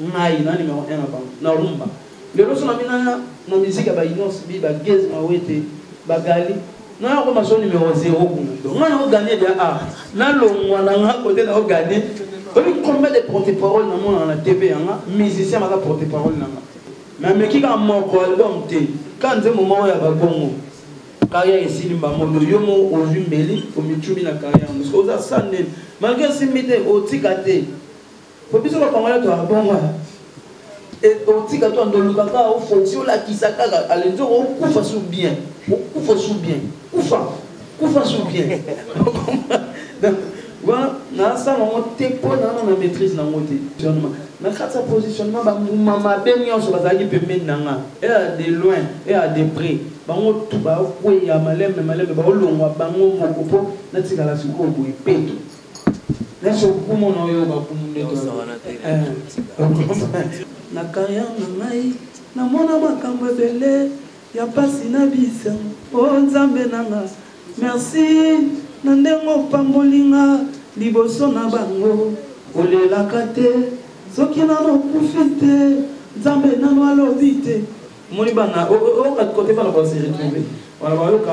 Ngai na numero 1 na bango na rumba. Lelo so na bina na musique ya ba Inos bi ba Gez Mawete ba Gali na yako ma so numero 0 kuna. Donc ngai na ko gagner de a na longwa na nga kote na ko gagner. Oyebi combien de porte-parole na mona na TV yanga musicien baza porte-parole na nga. Mais ameki kaka moko album te ka nzembo moko ya babongo kaya esili mbamondo yo mo ozwi mbeli omitumi na kaya yango oza sa nini malgre esimbi te otika te po biso ba congolais to abongo et otika to ndoluka ka o foti o lakisa kaka alenzo o kufa sous bien o kufa sous bien kufa kufa sous bien donc wana nasala yango te mpo nana na maîtrise nango te positionnement na kati ya positionnement bambuma mabe nyonso bazalaki pembeni na nga ea de loin ea de près bango tu bakweya malembe malembe baolongwa bango moko mpo natikala sikoyo boye peto Merci beaucoup mon oyo bakumu nde na carrière na ngai namona makambo ebele ya mpasi na bisa o oh, nzambe nanga merci na ndenge opambolinga liboso na bango olelaka te soki nano okufi te nzambe nano alobi te omoni bana oyoka kote bana base retrouve wana bayoka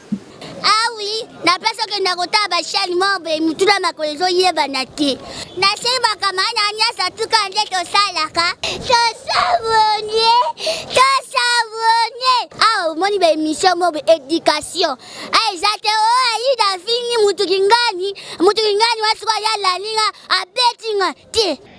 awi ah na place okenda kotala bashani moko boye mituna makolo ezoyebana te nasengi bakamana na nyonso tuka nde tosalaka tosabonie tosabonie awa ah, omoni baemission moko boye éducation a ah, eza te o oh, ayi na fingi motu kingani motu kingani wasikoya lalinga abetinga te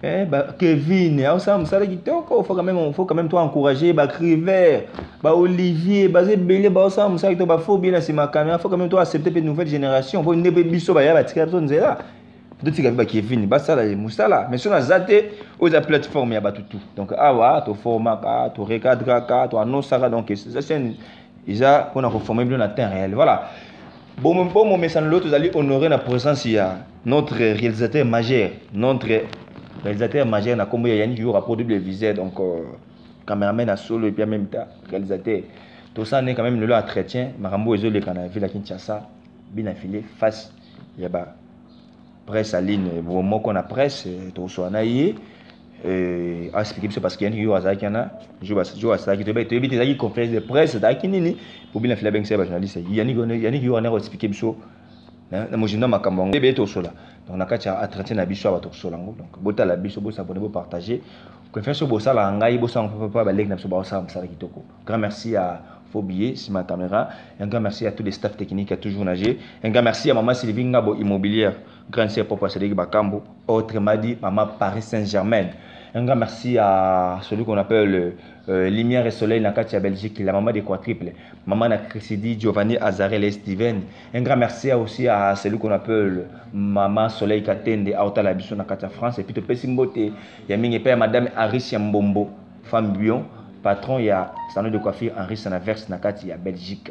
Eh, ba Kevin, au ça, ça le kitoko, faut quand même, faut quand même toi encourager, ba Criver, ba Olivier, ba Zebele, ba ça, ça le ba faut bien c'est ma caméra, faut quand même toi accepter une nouvelle génération, faut une biso ba ya ba tika biso nzela. totika mpe bakevin basala ye mosala mais soki naza te oyo eza plateforme ya bato tout donc awa toformaka torecadraka toannosaka donc eza chaine eza mpona koforme bino na temps réel voilà bomomesano lelo tozali honore na présence ya notre réalisateur majeur notre réalisateur majeur na kombo ya yannick yura po double viseur donc euh, cameraman ya solo epuis meme ta réalisateur tosala nde quand même lelo entretien makambo oyo ezoleka na ville ya kinshasa bina file face ya ba presse aline bo moko na presse euh, tokosola na ye euh, asplike biso parce que yannick yura azalaki wana jour asalaki toyebi te ezalaki conférence de presse ezalaki nini po bina file abengisaki bajournaliste yannick yura nde akoexplike biso na mozindo ya makambo yango ebele tokosola donc na kati ya entretien na biso awa tokosola yango donc botala biso bosabone bopartage confiance oyo bosalaka ngai bosalaka mpapa baleki na biso baosala mosala kitoko grand merci ya faux billet nsima ya caméra un grand merci à tous les staff techniques ya toujours nage un grand merci ya mama sylvie ngabo immobilière grande sœur papa sadeki bakambo autrement dit mama paris saint germain un grand merci à celui qu'on appelle Euh, lumière et soleil na kati ya belgique la maman de quadruple maman na crisidi giovanni azarel et steven un grand merci aussi à celui qu'on appelle maman soleil katende auta la biso na kati ya france epuis topesi mbote ya mingi epai ya madame aris ya mbombo femme bion patron ya salon de coiffure henri sanaverse na kati ya belgique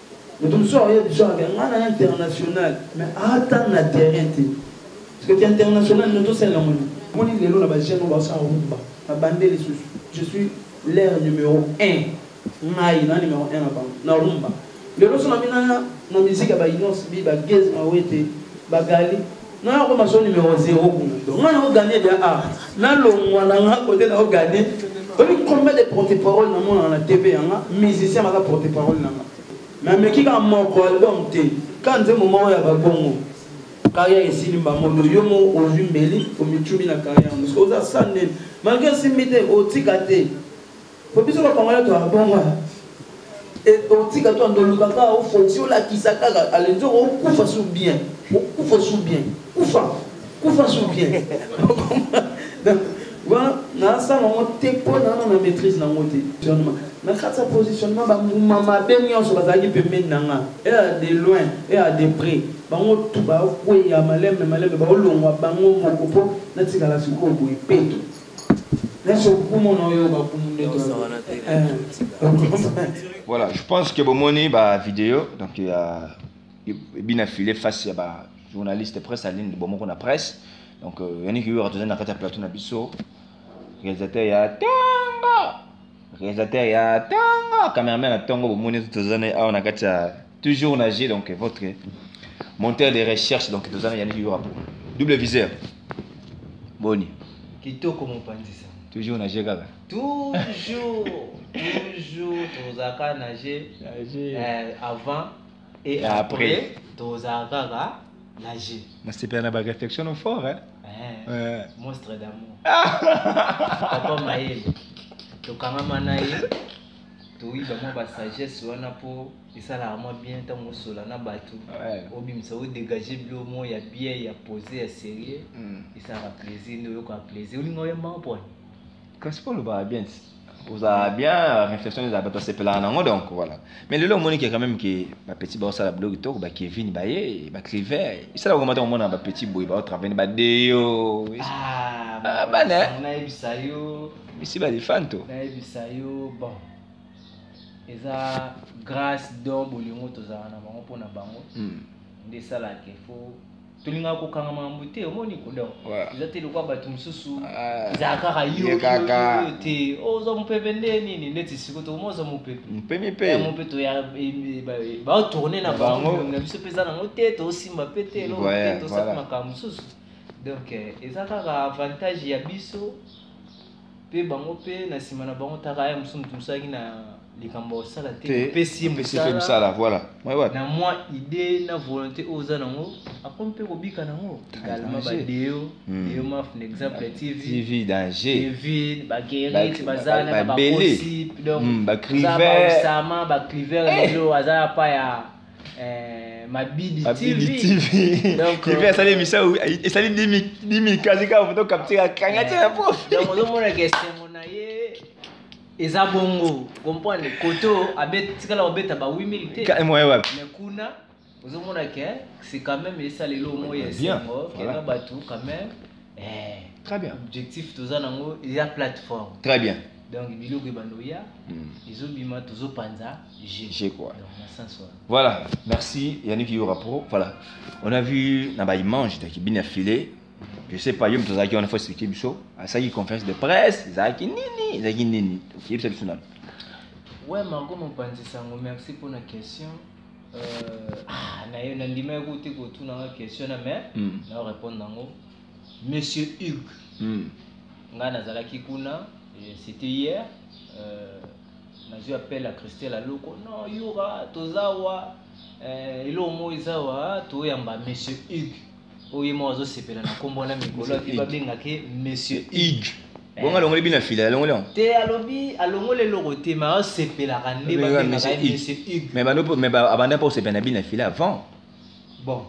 moto mosusu akoya biso ake ngai na international mais ata na terrain te parceke ti international no tosalela moni moni lelo na bagene baosa rumba na bande lisusu je suis l'air numéro 1 ngai na numéro 1 na bango na rumba lelo so na mina na miziki ya bainonce bi bageze mawete bagali nga na koma so numero zero kungundo nga nao gagne dia a na longwa na nga kote nao gagne oyebi combien de porte parole na monaka na tv yanga musicien baza porte parole na nga me ameki kaka moko album te ka nzembo moko ya babongo carrière esili mbamondo yo mo ozwi mbeli omitumi na carrière mosusu oza sa nene malgre simbi te otika te po biso ba congolais to abonga et otika to ndo luka ka o foti o lakisa kaka alenzo o kufa su bien o kufa su bien kufa kufa su bien donc wana nasala yango te mpo nana na maîtrise nango te positionnement na kati ya positionnement bambuma mabe nyonso bazalaki pembeni na nga ea de loin ea de près bango tu bakweya malembe malembe baolongwa bango moko mpo natikala sikoyo boye peto Voilà, je pense que bomoni ba vidéo donc il y a bina filé face ya ba journaliste presse à ligne bomoko na presse donc euh, yannick yura tozali na kati ya plateau na biso réalisateur ya tanga Réalisateur ya tongo, cameraman ya tongo, bomoni tout toza na awa na kati ya toujours na G donc votre monteur de recherche donc toza na Yannick Yurapo. Double viseur. Boni. Kitoko mopanzi sa. Toujours na G kaka. Toujours, toujours tozaka na G. Euh, avant et après tozala kaka na jeu nasepela na baréflexion no fort hein? Eh, eh. monstre d'amour papa mayele tokangama na ye toyiba mwa basagesse wana mpo esalaka mwa bien ntango osola na bato obimisa odégage bilo moko ya bien ya pose ya sérieux hmm. esalaka plaisir nde oyokaka plaisir olinga oyembaka mpona kasi po olobaka bien ti ozala bien réflexion ezala bato basepelaka nango donc voilà mais lelo omoni ke quand même ke bapetit baosala bilo kitoko bakevin baye bacliver esala koma ntango omona bapetit boye baotravene badeyo Ah, bana, eh? nayebisa yo bisi balifanto nayebisa yo bon eza grâce don bolingo tozalaka na bango mpo na bango Hmm. nde esalaka efo tolingaka kokanga makambo te omoni kodon eza te lokola bato mosusu ah. ezala kaka yokaka te ozwa oh, mopepe nde nini neti siko tokoma ozwa mopepe mpemi mpe yango mpe toya e, e, baotourne na bango na biso mpe eza nango te tosimba mpe te eloko te tosala makambo mosusu donc eh, eza kaka avantage ya biso mpe bango mpe na nsima na bango taka aya mosusu moto mosalaki na likambo osala te opesi ye mosala voilà na mwa idée na volonté oyo oza nango akomi mpe kobika nango egalema badeo hmm. deo maf na exemple ya tv tv danger tv bagerit baza na bakosi donc bacriver osama bacriver lelo aza ya pa ya Eh, Mabidi TV. TV. Donc, TV asali émission esali 10 minutes kasi kaka foto capture akanga tia na profi. Donc ozomona ke esengo na ye eza bongo comprendre koto abet tikala obeta ba 8000 te. Ka moyen wapi? Mais kuna ozomona ke c'est quand même esalelo moye esengo ke na bato quand même eh, très bien objectif toza nango eza plateforme très bien donc biloko ebanda oya hmm. ezobima tozopanza je quoi voilà merci yannick yora pro voilà on a vu na baimage taki bini afile je sais pas yo moto azalaki wana fo explike biso asalaki conférence de presse ezalaki nini ezalaki nini toyebisa biso nano ouais margo mopanzi sango merci mpona question euh, nandimaki ko te kotunanga question na mais mm. nao répondre nango monsieur hugue mm. ngai nazalaki kuna c'était hier euh, nazwi appel ya christelle aloko non yura toza wa euh, eloko moko eza wa toyamba monsieur hugue oyo ye moko azosepela na nkombo wana mikolo api babengake monsieur ig bongo alongoli bino afila alongoli yango te alobi alongoli eloko te ma asepelaka nde babengaka ye monsieur ig mais bano mais abanda mpo osepela na bino afila avant bon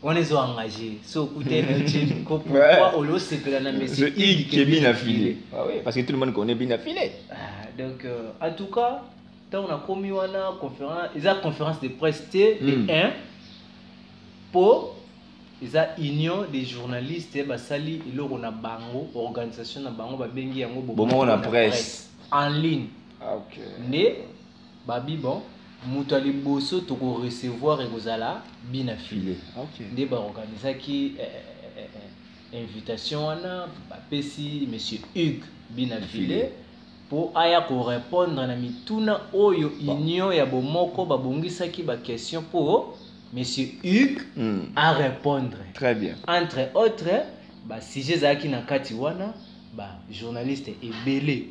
wana ezo engage so okute na ye ko pourquoi olio osepela na monsieur ig ke bino afile ah parce que tout le monde connaît bino afile ah, donc euh, en tout cas ntango nakomi wana conférence eza conférence de presse te le 1 hmm. po eza union des journalistes basali eloko na bango organisation na bango babengi yango bomoko na presse en ligne ah, okay. nde babi bon moto ya liboso tokorecevoir ekozala bina file okay. nde baorganisaki eh, eh, eh, eh, invitation wana bapesi monsieur hugues bina file mpo aya korepondre na mituna oyo union ya bomoko babongisaki baquestion mpo monsieur hugues mm. a répondre très bien entre autres basujet ezalaki na kati wana bajournaliste ebele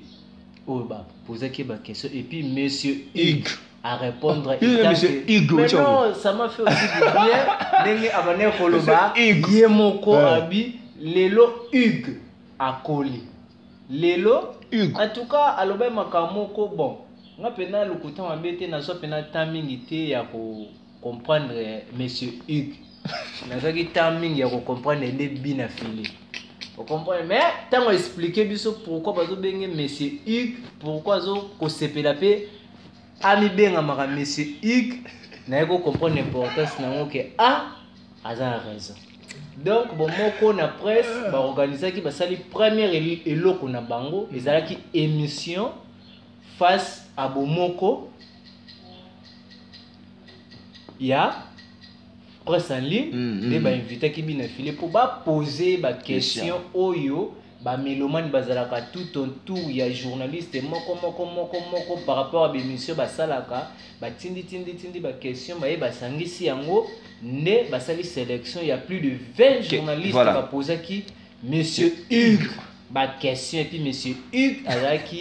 oyo bapozaki baquestion et puis monsieur hugues à répondre ah, il monsieur Hugo mais non ça m'a fait aussi du bien ndenge abandaki ah, koloba ye moko abi lelo hugue akoli lelo Hugo. en tout cas alobai makambo moko bon nga pena lokuta mabe te nazwa pena temps mingi te ya ko comprendre monsieur Hugues nazwaki temps mingi ya ko comprendre nde bina fili okomprendre mais ntango explike biso pourkui bazobenge monsieur hugue pourkui azokosepela mpe amibengamaka monsieur hugue naye kocomprendre importance na yango ke a ah, aza na raison donc bomoko na presse baorganisaki basali première eloko na bango ezalaki émission face à bomoko ya presse en ligne mm, mm. nde mm, bainvitaki bino efile mpo bapose baquestion oyo ba melomane bazalaka tout en tour ya journaliste moko moko moko moko par rapport ya baémission basalaka batindi tindi tindi baquestion baye basangisi yango nde basali sélection ya plus de 20 journaliste voilà. bapozaki monsieur hugue baquestion epuis monsieur hugue azalaki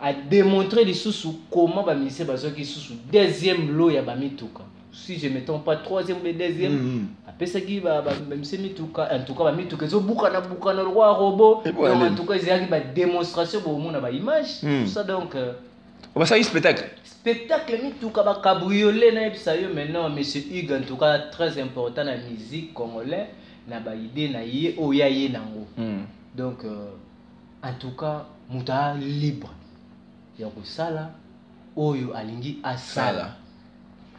a démontrer lisusu comment ba ministère bazwaki lisusu deuxième lot ya ba mituka si je me trompe pas troisième ou deuxième mm -hmm. apesaki bamise mituka en tout cas bamituka ezobukana bukana lokola robot eh, donc en tout cas ezalaki badémonstration bomona baimage mm. tout ça donc euh, basali spectacle spectacle mituka bacabriolet nayebisa yo maintenant monsieur hugue en tout cas très important na musique congolais na baide na ye oyo ya ye nango mm. donc euh, En tout cas, moto a libre ya kosala oyo alingi asala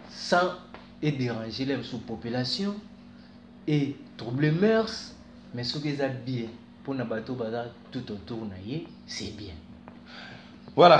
sans e déranger la sous population et trouble mœurs mais soki eza bien mpona bato baza tout autour na ye c'est bien voilà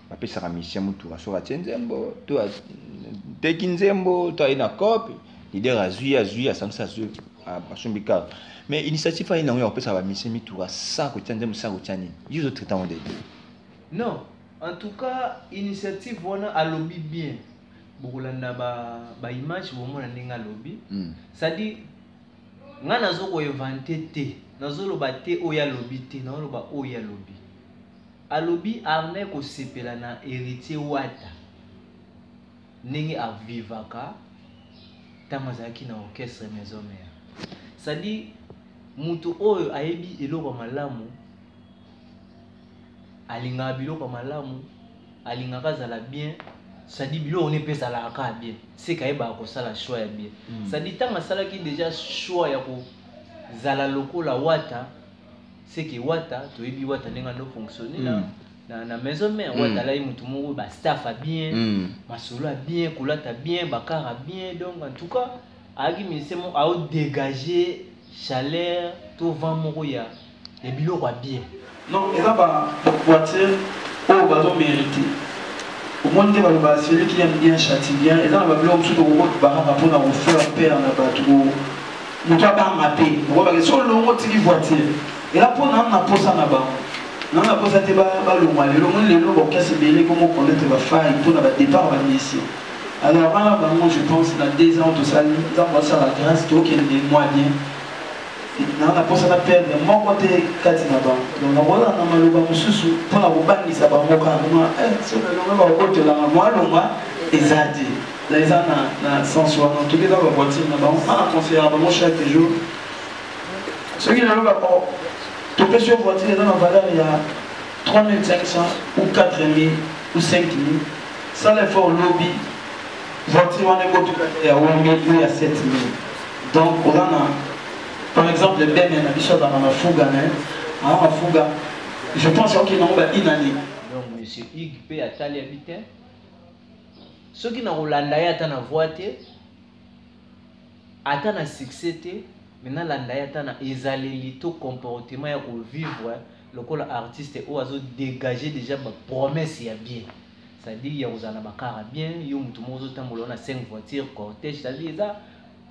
bapesaka musicien motuka soki atie nzembo to ateki nzembo to aye na cope lider azwi azwi asangisi azwi asombi kaka mais initiative aye nango ya kopesaka bamisien mituka sans kotia nzembo sans kotia nini yo ozotraite yango dede non en tout cas initiative wana alobi bien bokolanda baimage ba bomona ndenge alobi hmm. cestadi ngai nazokoevante te nazoloba te oyo alobi te nazoloba oyo alobi Alobi armee kosepela na heritier wata ndenge a vivaka ntango azalaki na orchestre maison mère sadi moto oyo ayebi eloko ya malamu alingaka biloko ya malamu alingaka azala bien sadi biloko ne mpe ezalaka kaka bien seke ayebaka kosala choix ya bien mm. sadi ntango asalaki deja choix ya kozala lokola wata c'est que wata toyebi wata ndenge ando fonctionner mm. Hein. na, na maison mère mm. wata alai motu moko ba staff a bien mm. masolo a bien kolata bien bakar a bien donc en tout cas ayaki ministère moko ao dégager chaleur to vent moko ya ya biloko ya bien non eza baboiture oyo bazo mérite omoni nde baloba celui qui aime bien châtie bien eza na babiloko mosusu tokokobakaka mpona kofaire pere na bato moto abanga te okobake so olongo otiki voiture ela mpo nanu na mposa na bango nanu na mposa te balongwa lelo moni lelo baokasi ebele komokonete bafai mpo na badepart bamisi alors wana bango je pense na deux ans tosali nzambe asala grâce tokende mwa bien nanu na mposa na perdre moko te kati na bango donc nakozala na maloba mosusu mpo na kobangisa bango kaka ma eh, soki elonga bakotolanga mwa longwa eza te na eza na na sens wana toki eza ba voiture na bango nga na conseillaka bango chaque jour soki naloba o oh, topesi yo voiture eza na valeur ya 3500 ou 4000 ou 5000 sala effort lobi voiture wana ekotuka ya 8000 ou ya 7000 donc oza na par exemple bene na biso azalaka na fuga na ye aa na fuga je pense okende yango ba inani donc monsieur ig mpe ataliaki te soki nakolanda ye ata na voi te ata na succès te me nalanda ye ata na ezaleli to comportement ya kovivre lokola artiste oyo azodégage déjà bapromesse ya bien c'est-à-dire ya kozala na bakara bien yo motu moko ozotambola na 5 voiture cortège c'est-à-dire eza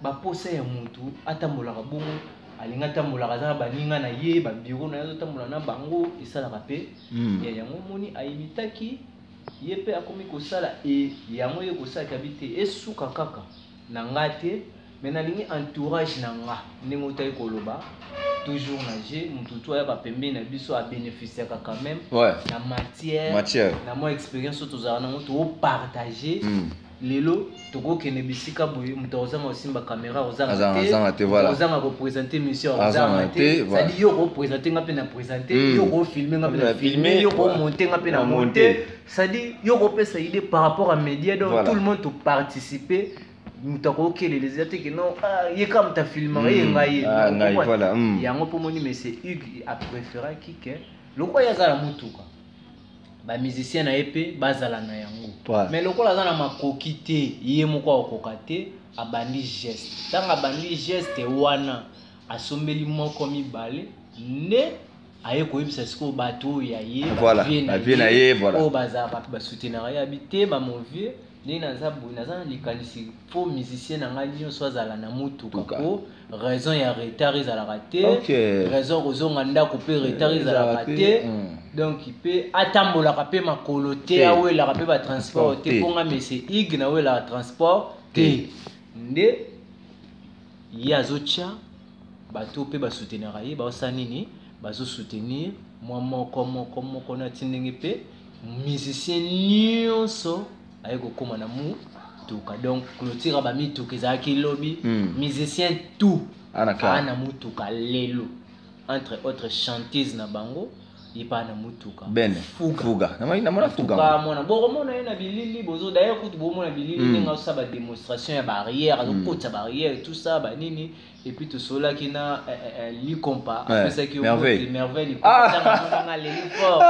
baposa ya motu atambolaka bongo alingi atambolaka aza na baninga na ye babiro na ye azotambola na bango esalaka mpe hmm. ya yango omoni ayimitaki ye pe akomi kosala e yango ye kosala kabi te esuka kaka na nga te mais nalingi entourage na nga ndenge otaki koloba toujours na je motu tu ayaka pembeni na biso abeneficiaka quand même ouais. na matière, matière. na mwa expérience oyo tozalaka nango toopartage mm. lelo tokokende bisika boye moto akozanga kosimba kamera ozanga te ozanga kopresente mission ozanga te sadi yo okopresente nga mpe na presente hmm. yo okofilme nga mpe na filme yo okomonte nga mpe na monte sadi yo okopesa idée par rapport à média donc tout le monde toparticipe moto akokelele eza te keno ah, ye kaka moto afilmaka ye hmm. ngai ah, hmm. yango mpo moni mese hugue apréféraki ke lokola ye aza na motuka ba musiciens na ye mpe bazala na yango ouais. mais lokola aza na makoki te ye moko akokoka te abandi geste ntango abandi geste wana asombeli moko mibale nde aye koyebisa sikoyo bato oyo ya ye vie na ye oyo bazalaka basoutenaka ye abi te bamove ndenge naza boye naza na likanisi fo musicien na ngai nyonso azala na motuka po raison ya retard ezalaka te okay. raison kozonga ndako mpe retard eh, ezalaka te mm. donc mpe atambolaka mpe makolo te awelaka mpe batransport te mpo nga mese ig nawelaka transport te nde ye azotya bato mpe basoutenaka ye baosala nini bazosoutenir mwa moko moko moko na ti ndenge mpe musicien nyonso aye kokoma na mutuka donc clotire ba mituka ezalaki lobi mm. musicien tout aa na mutuka lelo entre autres chantise na bango epa na mutuka bene fuga namona fuga mona bokomona ye na bilili bozo daye kutu bomona bilili hmm. ndenge azosa bademonstration ya barrière azokotisa hmm. barrière tout ça banini ba et puis tout cela qui n'a eh, eh, eh, li compas après ça qui merveille merveille li compas ça m'a m'a les fort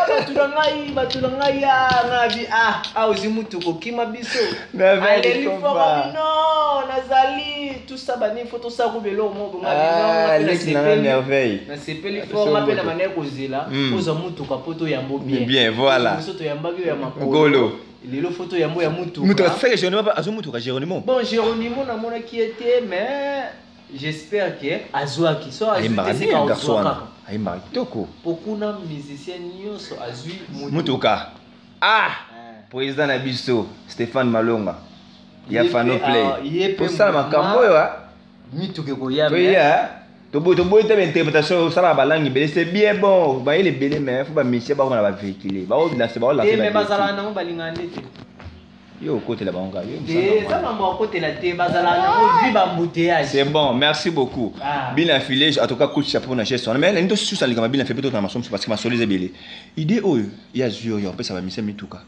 bato na ngai bato na ngai ya ngabi ah ah ozi mutu kokima biso aleli fort abi non nazali tout ça bani faut tout ça ko belo mo bonga ah, leki na ngai merveille nasepeli fort ngape na manai kozela oza mutu kapoto yambo bien bien voilà biso toyambaki yo ya makolo lelo foto yambo ya mutu mutu asaka Geronimo azo mutu ka Geronimo bon Geronimo na mona ki était mais j'espère que azwaki so azwi te sika ozwaka ayembaka kitoko po kuna musicien nyonso azwi mutuka ah eh. président na biso Stéphane Malonga ya Fano Play tosala makambo oyo ah. mituka ekoya toboyi toboyi te bainterprétation osalaka balangue ebele c'est bien bon bayele ebele mais fo bamisie bakoma na bavéhicule baolanse baolanseazalaka nango balingaka nde te yo okotela bango kaka eza mambo akotela te bazalaka nango vi bambouteillage c'est bon merci beaucoup ah. bina filage en tout cas coach chapeau na geste wana mais nalingi tosusa likambo bina fe mpe totana maso mosusu parce que masolo eza ebele idée oyo ya zwi oyo apesa bamisie mituka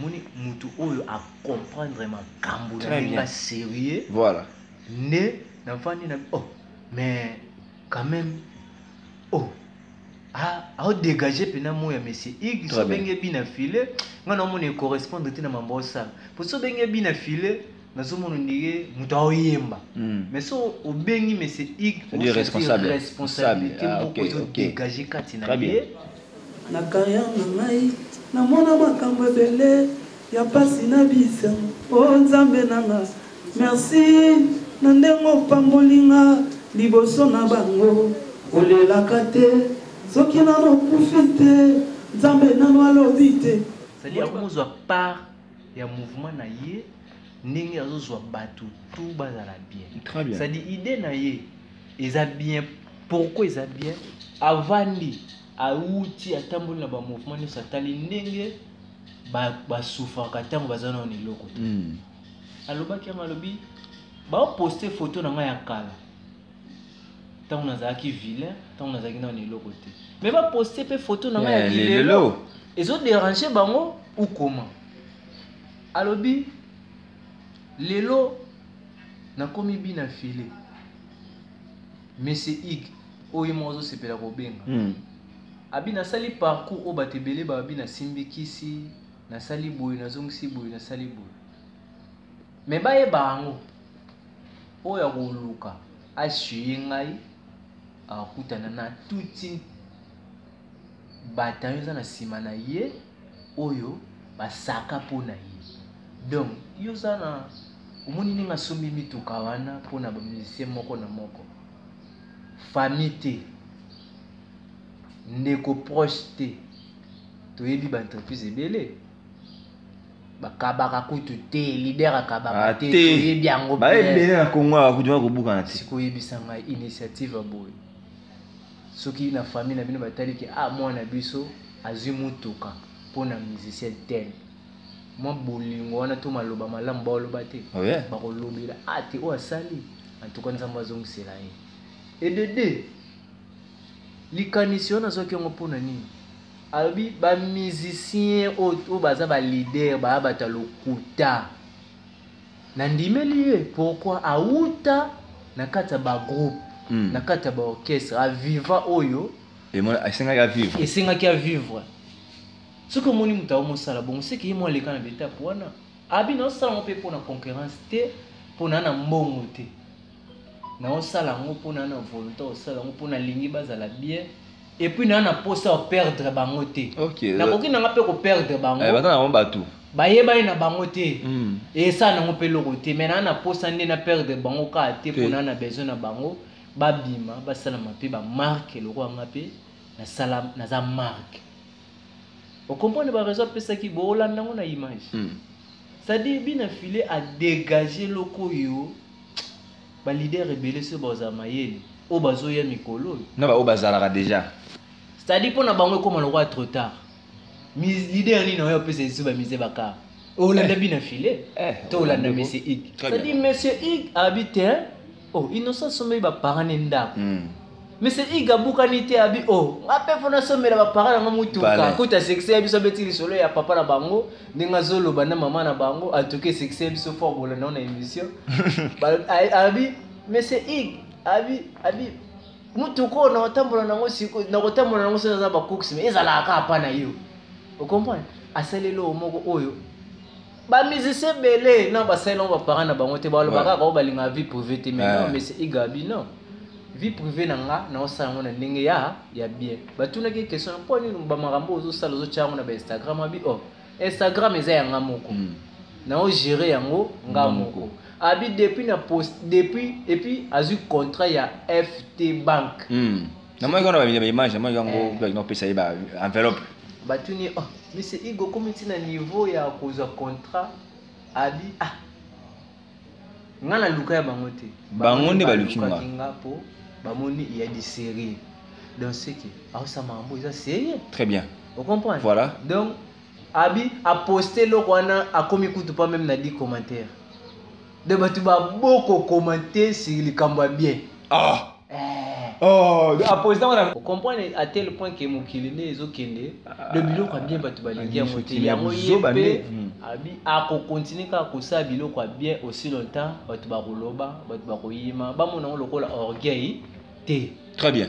moni mutu oyo a comprendre makambo na ndenge ya sérieux voilà nde nafandi na oh mais quand même oh aodégage mpena moi ya monsieur ig so obenge bi na filet ngai naomona ecorrespondre te na mambo osala mpo so obenge bi na filet nazomona ondire moto aoyemba hmm. mais so obengi mese iresponsabilité ah, moko ezodégage kati na ye na carrière na ngai namona makambo ebele ya mpasi na bisa o oh, nzambe nanga merci na ndenge opamboli nga liboso na bango olelaka te soki nano okufi te nzambe nano alobi te sali yango mozwa part ya mouvement na ye ndenge azozwa bato tout bazala bien cestadi idée na ye eza bien pourquoi eza bien avandi awuti atamboli na bamouvement nyonso atali ndenge basufaka ntango baza nao na eloko te hmm. alobaki yango alobi baoposte foto na ngai ya kala ntango nazalaki vilain ntango nazalaki nano na eloko te me baposte mpe foto na ngai ya eh, lilelo ezoderange bango ukoma alobi lelo nakomi bina file monsieur ig oyo moko ozosepela kobenga hmm. abi nasali parcours oyo bato ebele babi nasimbikisi nasali boye nazongisi boye nasali boye Mais bayeba yango oyo akoluka asuye ngai akutana na tuti batayo eza na nsima na ye oyo basaka mpo na ye donc yo oza na omoni ndenge asombi mituka wana mpo na bamusicien moko na moko famille te ndeko proche te toyebi baentreprise ebele bakabaka kutu te leader akabaka ah, te toyebi yango baebele na kongo awa kutu bakobukana te sikoyebisa ngai initiative ya boye soki na famille na bino batali ke ah mwana biso azwi motuka mpo na musicien tele mwa bolingo wana to maloba malamu baoloba te oh, bakolobela ah te oyo asali antuka nzambe azongisela ye edede likanisi wana azwaki yango mpo na nini Alobi ba musicien oyo baza ba leader ba bata lokuta. Na ndimeli ye pourquoi awuta na kati ya ba groupe mm. na kati ya ba orchestre a viva oyo esengaki a vivre esengaki a vivre soki omoni moto ao mosala bongo seke ye mo aleka na betape wana abi na osala ngo mpe mpo na concurrence te mpo na na mbongo te naosala yango mpo na na volonté osala yango mpo nalingi bazala bien epuis naa na mposa ya perdre bango te nakoki nanga mpe koperdre bango eh, baza nango bato bayebani na bango te hmm. esala nango mpe eloko te mai naa na mposa nde na perdre bango kaka te mpo naa na besoin na bango babima basalama mpe bamarke lokola nga mpe nasala naza marke okomprendre baraison apesaki boolanda yango na image hmm. cestadire bina file adegage eloko oyo ba leader ebele se baza mayele oyo bazoya mikolo oyo na baoyo bazalaka deja cetadi mpo na bango ekóma lokola trop tard leader nini oyo apesa lisusu bamise bakar olanda eh. bi na filet eh, to olanda monsieur ig cetadi monsieur ig abi te o oh, innocent sombeli baparane ndako hmm. Mese iga bukani te abi o oh, nga mpe mpo nasombela bapara nanga motuka kuta sexe ya biso abeti lisolo ya papa na bango ndenge azoloba na mama na bango atoke sexe ya biso fort bolanda na émission abi mese ig abi abi motuka oyo nakotambola nango siko nakotambola nango soki aza bakuksima ezalaka kaka mpa na yo okomprendre asaleli oyo moko oyo ba musicien ebele non basali nango baparent na bango te balobaka kaka oyo balingaka vie privé te mais non monsieur igabi non vie privée na nga naosala yango na ndenge ya ya bien batunaki ye question mpo nini bamakambo ozosala ozotya yango na bainstagram abi o oh, instagram eza ya nga moko hmm. naogere yango nga moko abi depuis na post depuis epuis azwi contrat ya ft bank mm. namonaki wana ba image namonaki yango eh. kutu akina kopesa ye ba enveloppe batuni oh monsieur igo okomi ntina niveau ya kozwa contrat abi ah nga na luka ya bango te bango nde baluki nga po bamoni ya du sérieux donc seke aosama yango eza sérieux très bien ocomprendre voilà donc abi aposte eloko wana akomi kutu pa meme na di commentaire de bato baboko commente sur likambo ya bien ah. eh. oh. okomprendre à tel point ke mokili nde ezokende ah. de biloko ya bien bato balingi yango te yango ye mpe hmm. akokontinue kaka kosala biloko ya bien aussi longtemps bato bakoloba bato bakoyima bamona yango lokola orgueil te très bien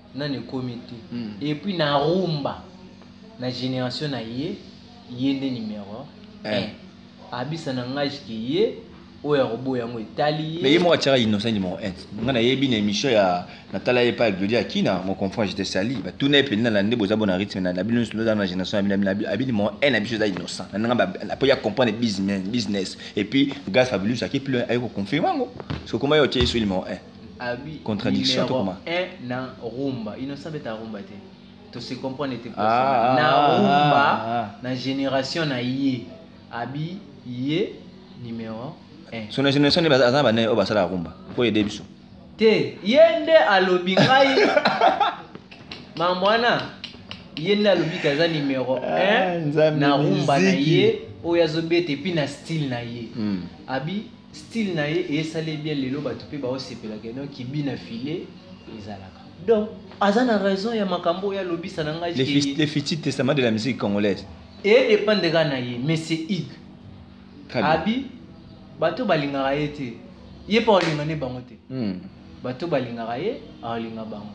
nani ekomi te mm. et puis na rumba na génération na ye ye nde numéro 1 eh. abisa na ngai ke ye oyo akoboya yango etali ye mais ye moko atiaka innocent numéro 1 ngai nayebi na émission ya natala ye pa glodi akina mon confrère j'étais sali batuna ye mpenza na nde boza bona rythme na bino nyonso oza na génération ya bino abi numéro 1 na biso eza innocent na nanga mpo ya comprendre business et puis gas fabulus ake plus aye koconfirme yango sokomba ye otie ye so numéro 1 abi contradiction to comment eh na rumba il ne savait ta rumba te to se comprendre te pour ah, ah, na ah, rumba ah, ah. na génération na ye abi ye numéro 1 son génération ne bazana bana o basala rumba ko aider biso te ye nde alobi ngai mambo wana ye nde alobi ke aza numero 1 na rumba na ye oyo azobeta epuis na style na ye hmm. abi style na ye esali ye bien lelo bato mpe baosepela ke no kibi na filet ezalaka donc aza na raison ya makambo oyo alobisa na ngai Le, ke- fi- le futur testament de la musique congolaise. edepende kaka na ye mais c'est ig Très bien. abi bato balingaka ye te ye mpe akolinga nde bango te Hmm. bato balingaka ye akolinga bango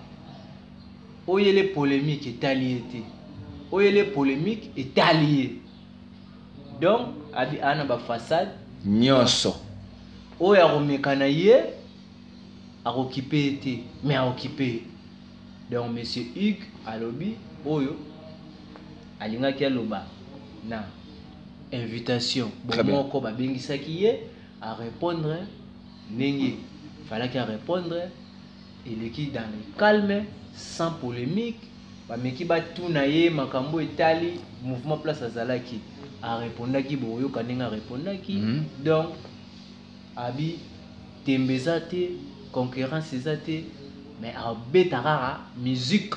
oyele polemique etali ye te oyele polemique etali ye donc abi ana ba façade nyonso oyo akomeka na ye akokipe ye te mais akokipe ye donc monsieur hugue alobi oyo alingaki aloba na invitation bomoko babengisaki ye arépondre ndenge falaki arépondre eleki dans le calme sans polemique bameki batuna ye makambo etali mouvement place azalaki arepondaki bokoyoka ndenge arepondaki mm -hmm. donc abi tembe eza te concurrence eza te mais abeta kaka musique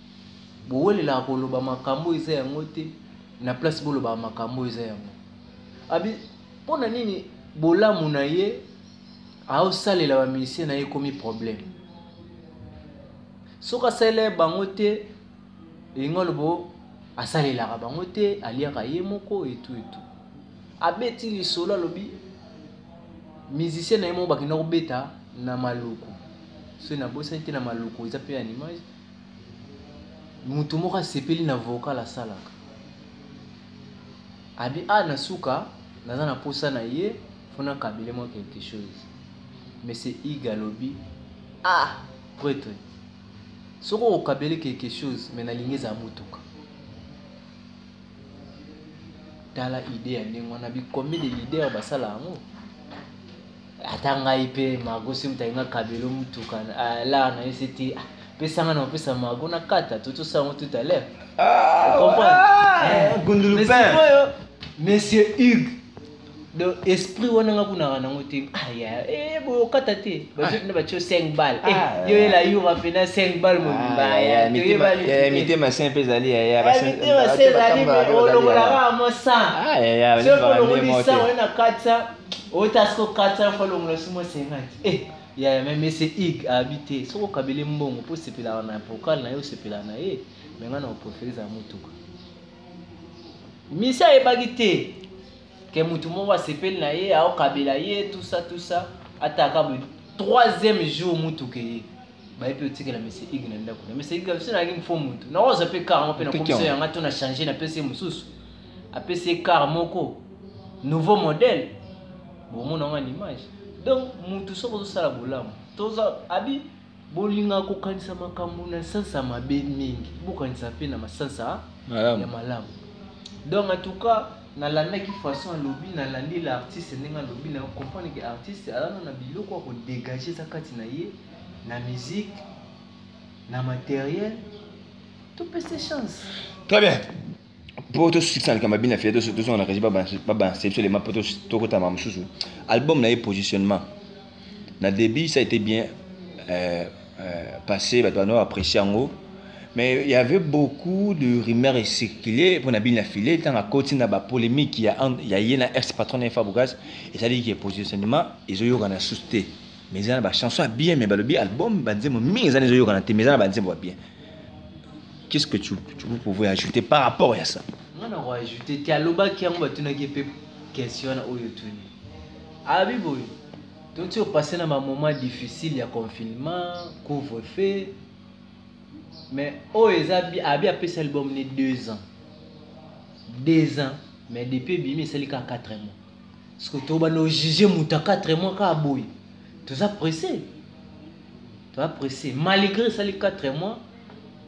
bowelelaka koloba makambo oyo eza yango te na place bolobaka makambo oyo eza yango abi mpo na nini bolamu na ye aosalela bamisie na ye ekomi problème soki asalela ye bango te elingi alobo asalelaka bango te aliaka ye moko etu etu abeti lisolo alobi musicien na ye moko bakenda kobeta na maluku soki nabosani te na maluku eza mpe ya nimage moto moko asepeli na vocal asalaka abi a ah, na suka naza na posa na ye mpo nakabele mwa quelque chose monsieur ig alobi a ah, pretre soki okokabele quelque chose me nalingi ezala motuka tala idée ya ndenge wana bikomi de leader basala yango ata ngai mpe mago soki moto alinga kabelo motuka ah, la na ye sete ah, pesa ngai na kopesa mago na kata totosa yango tout à l'heure ah, comprendreoyo monsieur hugue do esprit wana nga kunaka nango te aya eh, bokata te bazokina batio 5 bal eh, yo yela yura mpena 5 bal mobimba mitema se mpe ezali yayamitema se ezali olokolaka mwa 100 soki olokoli 100 oye na 400 ota siko 400 fois longola si mwasi engaki eh, yaya me mese ig abi te soki okabeli mbongo mpo osepelaka na vocal na ye osepelaka na ye me ngai na oprefere ezala motuka misi ayebaki te ke motu moko asepeli na ye aokabela ye tusa tusa ataka boye troisième jour motuka eye baye mpe otikela monsieur ig na ndako na monsieur ig biso nayaki mfo motu naoza mpe kar ngo mpe nakomiso yanga to na change napesi ye mosusu apesi ye kar moko nouveau modèle bomona ngo na image donc motu soki ozosala bolamu toza abi bolinga kokanisa makambo na sansa mabe mingi bokanisa mpe na masansa ya malamu donc en tout cas nalandaki façon alobi nalandi la artiste ndenge alobi na comprendre ke artiste alana na biloko ya kodégage eza kati na ye na musique na matériel topese chance très bien mpo tosusa likambo ya bina fia tozonga na kaji babanse biso lema mpo tokotama mosusu album na ye positionnement na début ça a été bien euh, euh, passé bato bana apprécie yango mais il y avait beaucoup de rumeurs et circulé mpo na bini na file ntango akoti na bapolémique ya, ya ye na ex patron na ye fabrogaz ezalaki ke positionnement ezoyokana susu te mais eza na bachanson ya bien mais balobi album banzembo mingi eza na ezoyokana te mais eza na banzembo ya bien qu'est-ce que tu, tu vous pouvez ajouter par rapport ya ça nga na koajouter te alobaki yango batunaki mpe question na oyo tuni Alobi boye, toti opase na bamoma difficile ya confinement, couvre feu, mais oyo oh, eza bi abi apesi album ne deux ans deux ans mais depuis ebimi esali kaka quatre mois siko tobanda ojuge moto ya quatre mois kaka boye toza presse toza presse malgré esali quatre mois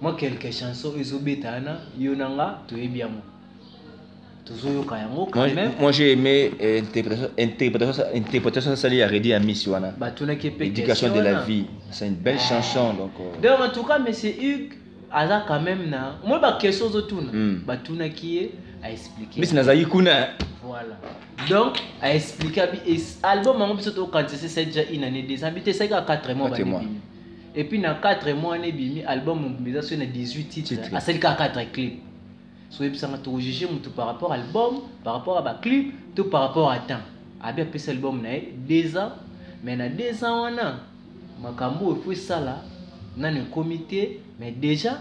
mwa quelque chanson ezobeta wana yo na nga toyebi yango tozoyoka yango quand même moi j'ai aimé euh, interprétation interprétation interprétation sali ya Reddy Amis wana batunaki pe éducation de la vie c'est une belle chanson donc euh. donc en tout cas monsieur Hugues aza quand même na moi ba question ozotuna hmm. batunaki ye a expliquer mais nazali kuna voilà donc a expliquer abi album yango biso tokanisa se c'est déjà une année deux ans bite esaki ka 4 mois ba et puis na 4 mois ne bimi album eza so na 18 titres asali ka 4 clips so oyebisanga tokojuge motu par rapport album par rapport ya baclip to par rapport ya temps abi apesi album na ye deux ans mais na deux ans wana makambo oyo efo esala nani ekomi te mais déjà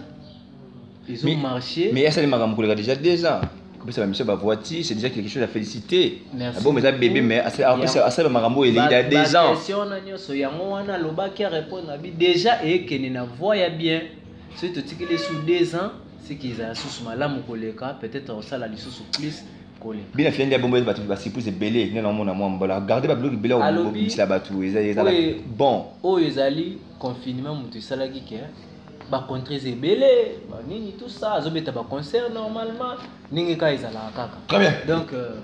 ezo Mais- marche mais asali makambo koleka déjà deux ans kopesa bamiso bavoiture c'est déjà quelque chose à féliciter Merci abom eza bebe beaucoup. mais asali- apesa- Ya- asali makambo oyo eleki da deux ans question na nyonso yango wana alobaki arépondre abi déjà eyekende na voie ya bien soki totikeli sous deux ans siki ezala lisusu malamu koleka peut-être osala lisusu plus koleka bina fia nde abombo bato basurprise ebele nde naomona mwa mbala garde babiloko ebele obimisa bato ezala bon oyo ezali confinement moto esalaki ke bacontres ebele banini tout ça azobeta baconcert normalement ndenge kaka ezalaka kaka très bien donc euh,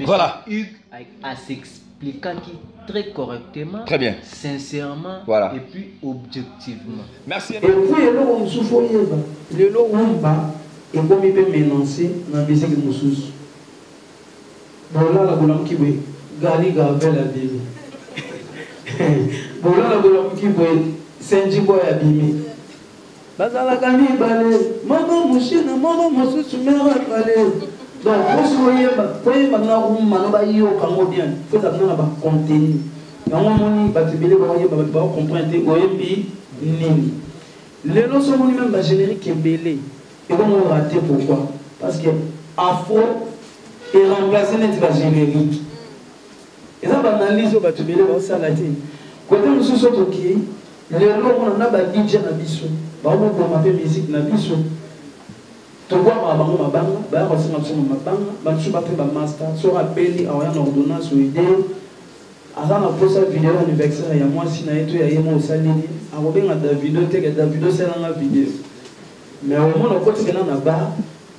voilà hugues à s'explique expliquaki très correctement, très bien. sincèrement voilà. et puis objectivement. Merci. Et puis eloko mosusu faut yeba lelo rumba ekomi mpe mélancer na musique mosusu. Bolala bolamuki boye Gali Gavel abimi. Bolala bolamuki boye Senji Boy abimi. Bazalaka mibale, moko mushina, moko mosusu mero ebale. Donc, posi koyemba, koyemba na rumba, no bayoka ngo bien, koza bino na ba contenu. Yango moni batu ebele bakoyemba, batu bako comprendre te oyembi nini. Lelo so moni meme ba generique ebele, ebongo rate pourquoi? Parce que afro e remplacer neti ba generique. eza ba analyse oyo bato ebele baosala te kote mosusu okoki lelo omona na ba dj na biso baomoboma mpe musique na biso tokwamaka bango mabanga baya kosenga biso na mabanga bamisu bape bamaster soki abeli aoya na ordonnance oide aza na mposa video anniversaire ya mwasi na ye to ya ye moko osaleli akobenga davido teke davido osalanga video mais omona okotikena na bar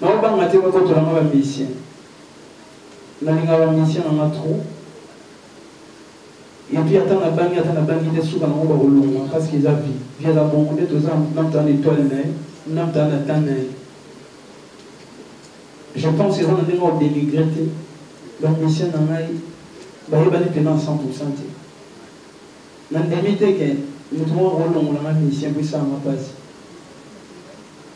na obanga te bakotola nga bamusicien nalinga bamusicien na nga trop epuis ata nabangi ata nabangi te suka nango bakolonga parce que eza vie vie eza bongo nde toza namtaa na etoile na ye namtaa na temps na ye je pense eza na ndenge odenigre te bamusicien na ngai bayebani mpena 100 pourcent te nandimi te ke moto moko akolongola nga musicien po esala nga mpasi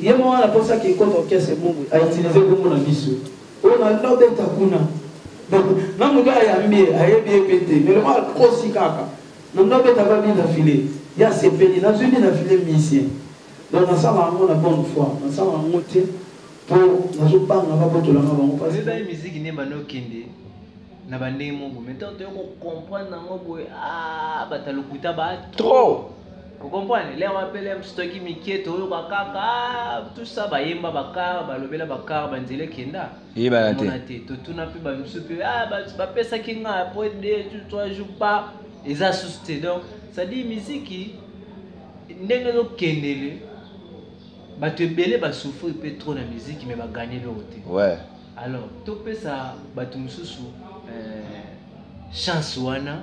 Ye moko na posa ki ekoto orchestre Mungu a utiliser kombo na biso. Oyo na no beta kuna. Na mutu ayambi ye ayebi ye pe te. Mais lokola akosi kaka. Na no beta ba bina filet. Ye asepeli na zui bina filet musicien. Donc na sala yango na bonne foi. Na sala yango te po nazo banga ba botola nga bango pasi. Oyebaki musique nde ebanda okende na ba ndenge moko mais tango toye ko comprendre yango boye ah batu ya lokuta ba trop. Vous comprenez Les MPLM, stoki mikie, toyoka kaka, ah, tout ça, bayemba bakar, balobela bakar, banzele kenda. Ye balate. Monate, totuna pe balusu pe, ah, bapesa kinga, après deux, trois jours pas, ils assustent. Donc, ça dit musique, ndenge ezokendele bato ebele basouffrir mpe trop na miziki me baganye eloko te ouais. alors topesa bato mosusu euh, chance wana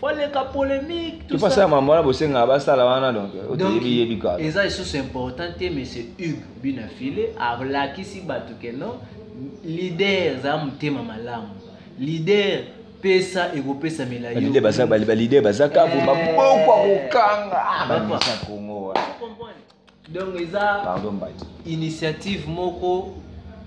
oleka polemique tout ça ça maman la bosenga ba sala wana donc oteyebi yebi ka eza isusu important te mais c'est Hugues bina file ablakisi bato ke non leader za motema malamu leader pesa ekopesa milayobalide baza kaku eh. bapokwa kokanga ah, bakongo wana donc eza pardon mbadi initiative moko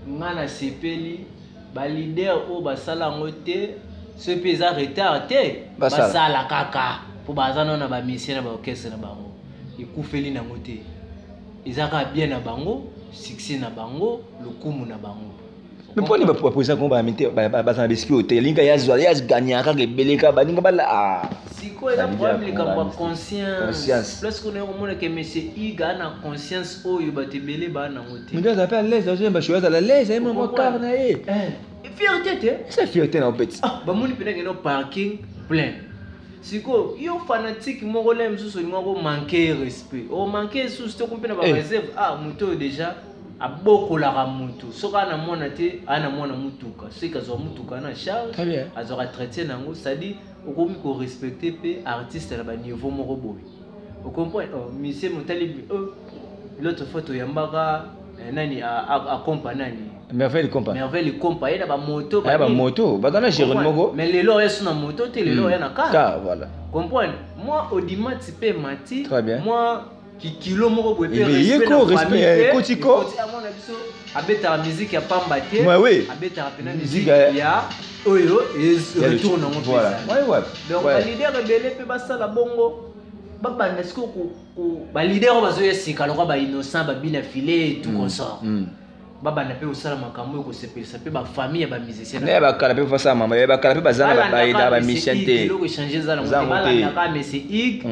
nga na sepeli ba leader oyo basala yango te soki mpe eza retard te basala kaka mpo baza nao na bamisie na baorchestre na bango ekufeli nango te eza kaka bien na bango succès na bango lokumu na bango me mpo nini bapresa kongo baza na besprit oyo te elingi kaka yazwa yazganya kaka ebele kaka baninga bala ah. sikoyo eza problème likambo ya conscience place kuna yo komona ke monsieur hugue ana conscience oyo bato ebele baa nango te mutu aza mpe alaise azoyemba show azala alaise aye mwa kar na ye fierté te eza fierté na opeti ah, bamoni mpenza keno parking plein sikoyo yo fanatique moko le mosusu olinga komanke respect omanke esusu te kompe na bareserve ah moto oyo déjà abokolaka motu soki ana mwana te ana mwana motuka soki azwa motuka na charge azwaka traite na yango cestadire okomi korespecte mpe artiste na baniveau moko boye ocomprendre oh, misie motali oh, l'autre fois toyambaka eh, nani akompa nani merveille compa merveille compa ye na bamoto ba bamoto baza na gerone moko mais lelo oya so na moto te lelo oya hmm. na car voilà comprendre moi odimati mpe mati moi kikilo moko boye pe respect na famille ko tiko amona biso abetaka musique ya pamba te ouais, oui. abetaka pena musique ya oyo retour nango voilà ouais ouais donc ouais. leader ebele pe basala bongo babanda sikoyo ba leader oyo bazoya sika lokwa ba innocent babina filet tout mm. consort mm. babanda mpe kosala makambo oyo kosepelisa mpe bafamille ya bamusicien ya bakala mpe basala mama ya bakala mpe baza na bayeda bamisien te eloko echange eza nangobalandaka mesi ig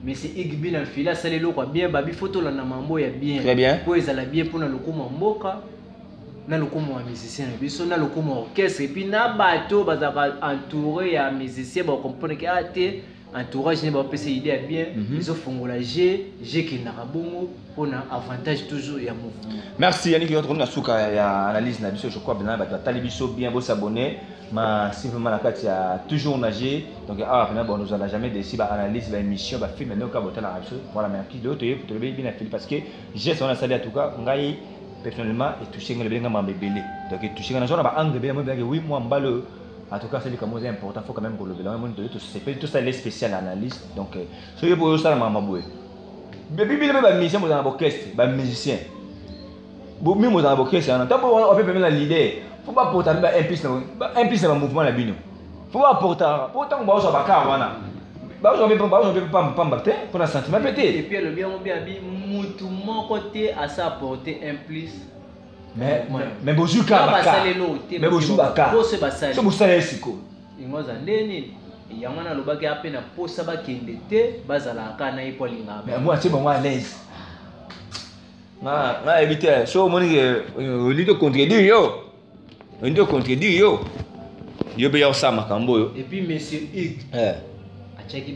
mesi ig bino afili asala eloko ya bien babi fo tolanda mambo ya bien mpo ezala bien mpo na lokumu ya mboka na lokumu ya musicien na biso na lokumu ya orchestre epuis na bato bazalaka entouré ya musicien bakomponeke a ah, te entourage ne bapesa idée ya bien mhm. ezofongola je je ekendaka bongo mpona avantage toujours ya mouvement merci yannick yo tokomi na suka ya analyse na biso je crois bena bato batali biso bien bosabonne ma simplement na kati ya toujours na je donc awa mpena bon ozala jamais desi baanalyse baémission bafilme nde oka botalaka biso voilà merci de toye tolobi bina fili parce que geste wana asali ya tuka ngai personnellement etouche ngai lobeli ngai mambo ebele donc etouche ngai nazwa na baangle ebele moi ebelaki wi mwa mbala oyo En tout cas, c'est likambo eza important, faut quand même kolobela yango ndoyo tosepeli tosala le spécial analyse. Donc euh, soki boyo osala mama boye. Bibi bino mpe bamusicien bozala na bokeste, bamusicien. Bomi bozala na bokeste wana. Ntango wana ope pembe na leader, faut bapota mpe baimplice na baimplice na bamouvement na bino. Faut bapota, mpo ntango baozwa bakar wana. Baozwa mpe baozwa mpe pamba pamba te, mpo na sentiment mpe te. Et puis alobi yango mpe abi mutu moko te asa apporte un plus mais mais mais bozwi ka baka basalelo te mais bozwi baka bose basali so bosala esiko yango aza nde nini yango wana alobaki ape na posa bakende te bazalaka kaka na ye mpo alingaka mais yango atie bango à l'aise nga yebi te so omoni ke olingi to contredire yo olingi to contredire yo yo mpe ya kosala makambo oyo epuis monsieur hugue eh. atiaki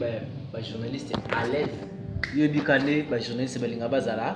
bajournaliste à l'aise yo yebika nde bajournaliste balinga bazala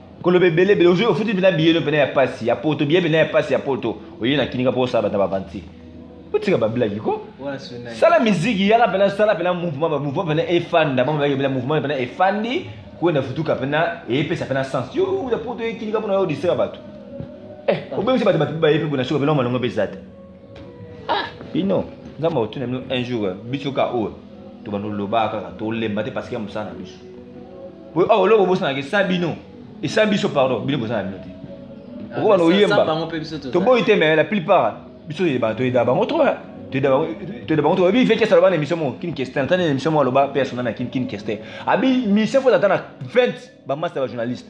koloba ebele ebele ozwi ofuti mpena biye no mpena ya pasi ya poto biye mpena ya pasi ya poto oye na kinika mpo osala bata bavanti otika bablaki ko sala miziki yaka mpena sala mpena mouvement bamouvement mpena efanda mama bayaki mpena mouvement mpena efandi kwenda futuka mpena eyepesa mpena sens yo ya poto ekinika mpona yo odisera bato eh, obengisi bato bato baye mpe bona soka mpena malongo mpe eza te ah, bino nzambe akotuna bino un jour biso ka oyo tobanda olobaka kaka tolemba te parce que ya mosala na biso oyo oh, oloko bosanaka esa bino esa biso pardon bino boza na bino te ah, okoba na oyemba toboyi te mais la plupart biso toyeda bango trop toyeda bango trop ebi vekesa aloba na émission moko kin kester ata na émission moko aloba mpe asona na kin kin kester abi mission fo ata na 20 bamasta bajournaliste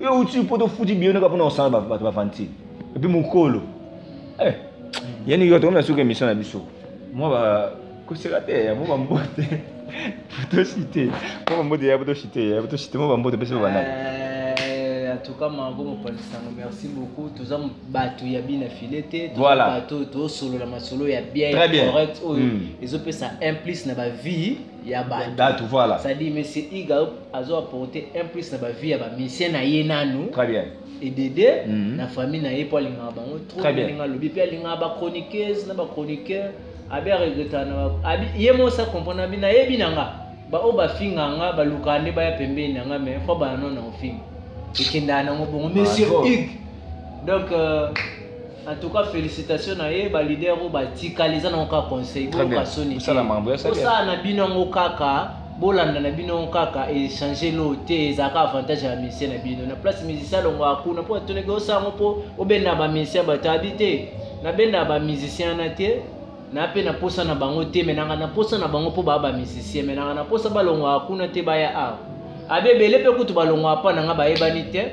yo uti po tofuti biyo naka mpona kosala bato bavanti epi mokolo eh, yani yo tokomi na suka émission na biso mwa ba koseka te ya mwa bambote potosite mwa bambote ya potosite ya potosite mwa bambote mpesi babandaki eh, atuka mango mopanzi sango merci beaucoup toza bato ya bina file te toza bato tosolola masolo ya bien ya correct oyo hmm. ezopesa un plus na bavie ya bato voilà ça dit monsieur iga azo apporter un plus na ba vie ya ba musicien na ye nanu très bien et dede mm -hmm. na famille na ye po alingaka bango trop alinga alobi pe alingaka ba chroniqueuse na ba chroniqueur abi aregreta na abi ye mosa comprendre abi na yebi na nga ba oyo bafinga nga balukaka nde baya pembeni na nga mais fo bana no na ofinga ekendaka nango bongo monsieur hugue donc euh, En tout cas, félicitations na ye ba leader oyo batikali eza nango kaka conseil boyoka soni osala na bino yango kaka bolanda na bino yango kaka echange lo te ezalaka avantage ya bamisien na bino na place musicien alongwaka kuna mpo atunaki osala yango mpo obenda bamisien bato abi te nabenda bamusicien wana te na mpe naposa na bango te me nanga naposa na bango mpo baa bamusicien me nanga naposa balongwaka kuna te baya awa abi ebele mpe kutu balongwaka mpo nanga bayebani te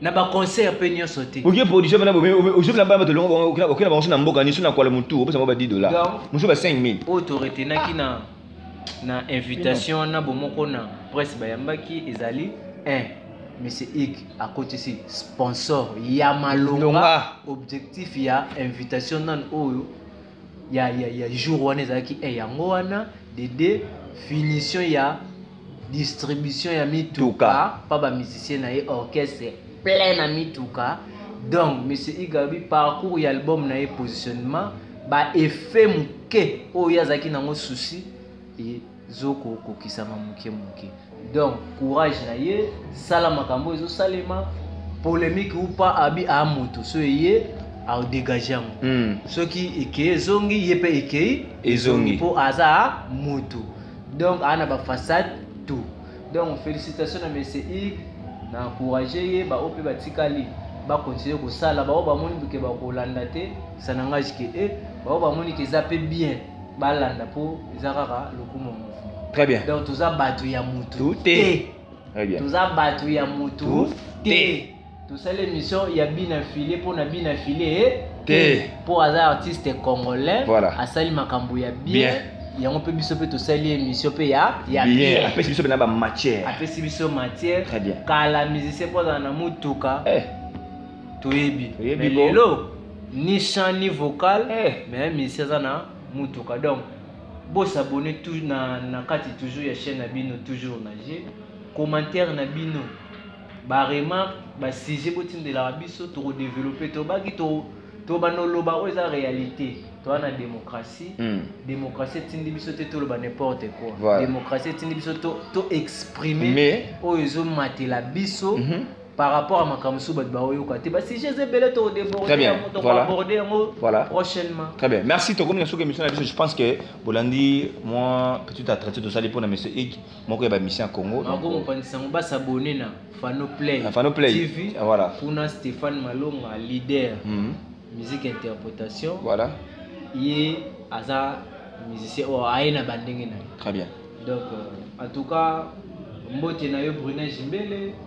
na ba concert pe nionso te okie production bana bobe ozobi na bana bato longo bango okenda okenda bango so na mboka ni so na kwala mutu opesa bango ba 10 dollars mosusu ba 5000 oyo to retenaki na na invitation na bomoko na presse bayambaki ezali 1 monsieur ig akotisi sponsor ya malonga objectif ya invitation nano oyo ya, ya, ya jour wana ezalaki e yango wana dede finition ya distribution ya mituka pa bamusicien na ye orchestre plein na mituka donc monsieur igabi parcours ya album na ye positionnement baeffet moke oyo ye azalaki nango souci zoko kokisama moke moke donc courage na ye sala makambo ezosalema polemique ou pas abi a moto so eye aodegage yango mm. soki ekei ezongi ye mpe ekei ezongi mpo aza moto donc aa na bafaçade tout donc félicitation na monsieur ig na encourage ye baoyo mpe batikali bakontinue kosala baoyo bamoni boke bakolanda te sanangage ke e eh, baoyo bamoni ke eza mpe bien balanda mpo eza kaka lokumu ya mouvement très bien donc toza bato ya mutu te toza bato ya mutu te tosali émission ya bina file mpo na bina file eh? te mpo aza artiste congolais voilà. asali makambo ya bien, bien yango mpe biso mpe tosali émission mpe ya ya bien apesi biso mpe na bamatière apesi biso matière très bien kala musicien mpo azala na motuka eh. toyebi lelo ni chant ni vocal eh. mais misi aza na mutuka donc bosabone na, na kati toujours ya chaîne na bino toujours na je commentaire na bino baremarque basujet botindelaka biso tokodeveloppe tobaki tobanda oloba oyo eza réalité toza na démocratie hmm. démocratie etindi biso te toloba n'importe quoi voilà. démocratie etindi biso to, to exprime oyo ezomatela biso mm -hmm. par rapport à makambo mosusu bato baoyoka te basujet eza ebele tokodeborde yango tokoaborde yango prochainement très bien merci tokomi na soki émission na biso je pense que bolandi mwa petite atratie tosali mpo na monsieur ig moko ya bamission ya congo nakomopanisa yango basabone na fanoplay fanoplay tv voilà kuna stéphane malonga leader mhm. musique interprétation voilà ye aza musicien oyo aye na bandenge na ye très bien donc euh, en tout cas mbote na yo brune jimbele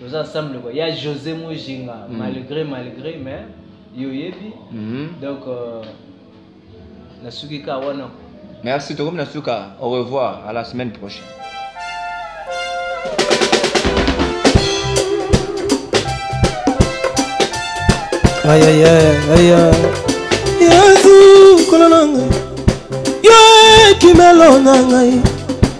toza ensemble quoi ya José Mujinga mm. malgré malgré mais yo yebi mm. donc euh, na suki ka wana merci tokomi na suka au revoir à la semaine prochaine Aïe aïe aïe aïe Yesu kolonanga Yo kimelo na ngai